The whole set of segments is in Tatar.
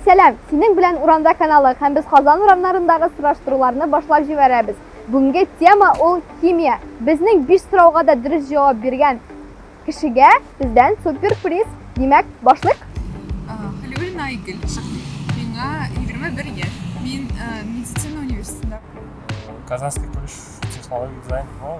Сәлам, синең белән урамда каналы һәм без Казан урамнарындагы сораштыруларны башлап җибәрәбез. Бүгенге тема ул химия. Безнең биш сорауга да дөрес җавап биргән кешегә бездән суперприз. Димәк, башлык. Хәлиуллина Айгөл, миңа 21 яшь. Мин медицина университетында. Казанский колледж технологий дизайн, ну,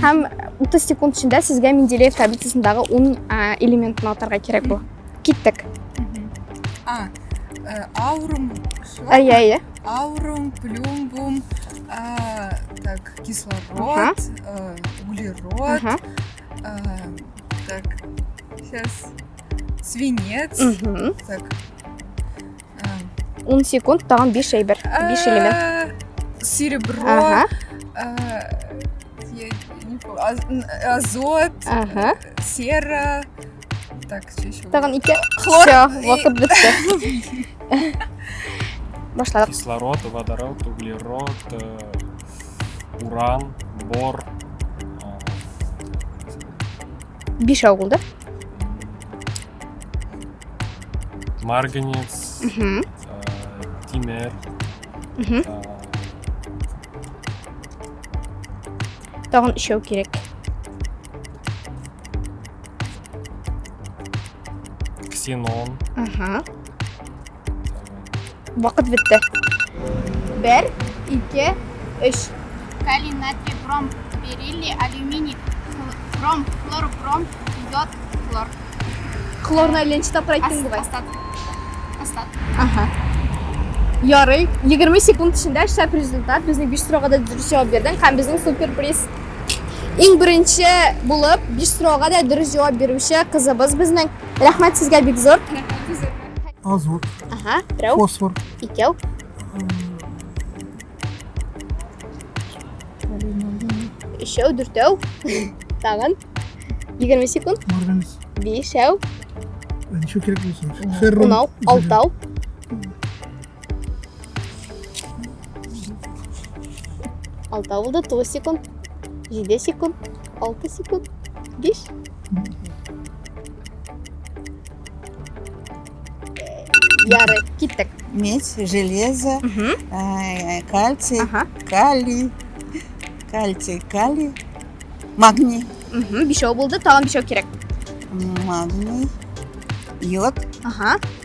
Һәм 30 секунд эчендә сезгә Менделеев таблицасындагы 10 элементны атарга кирәк була. Киттек. А. Э, аурум. Әйе, әйе. Аурум, плюмбум, э, так, кислород, э, углерод, так, сейчас свинец, так, 10 секунд тагын 5 әйбер, 5 элемент. Серебро. Ага. Азот. Ага. Сера. Так, что еще? Тагын ике. Хлор. Все, вакыт бетте. Башладык. Кислород, водород, углерод, э, уран, бор, Биш авыл, да? Марганец, э, Тимер. Э, Тагын өчәү кирәк. Ксенон. Ага. Вакыт бетте. Бер, ике, өч. Калий, натрий, бром, бериллий, алюминий, бром, хлор, бром, йод, хлор. Хлорны әллә ничә тапкыр әйттең бугай. Ага. Ярый. 20 секунд эчендә шәп результат. Безнең 5 сорауга да дөрес җавап бирдең һәм безнең супер приз. Иң беренче булып 5 сорауга да дөрес җавап бирүче кызыбыз безнең. Рәхмәт сезгә бик зур. азот, Ага, берәү, фосфор, икәү. Өчәү, дүртәү. Тагын. 20 секунд. марганец. Бишәү, Ничего кирәк булсын. Феррон. унау, алтау. Алта булды, тугыз секунд. Җиде секунд, алты секунд, биш. Ярый, киттек. Медь, железо, э, кальций, Ага. калий, кальций, калий, магний, Мгм, Бишәү булды, тагын бишәү кирәк. магний, йод, Ага.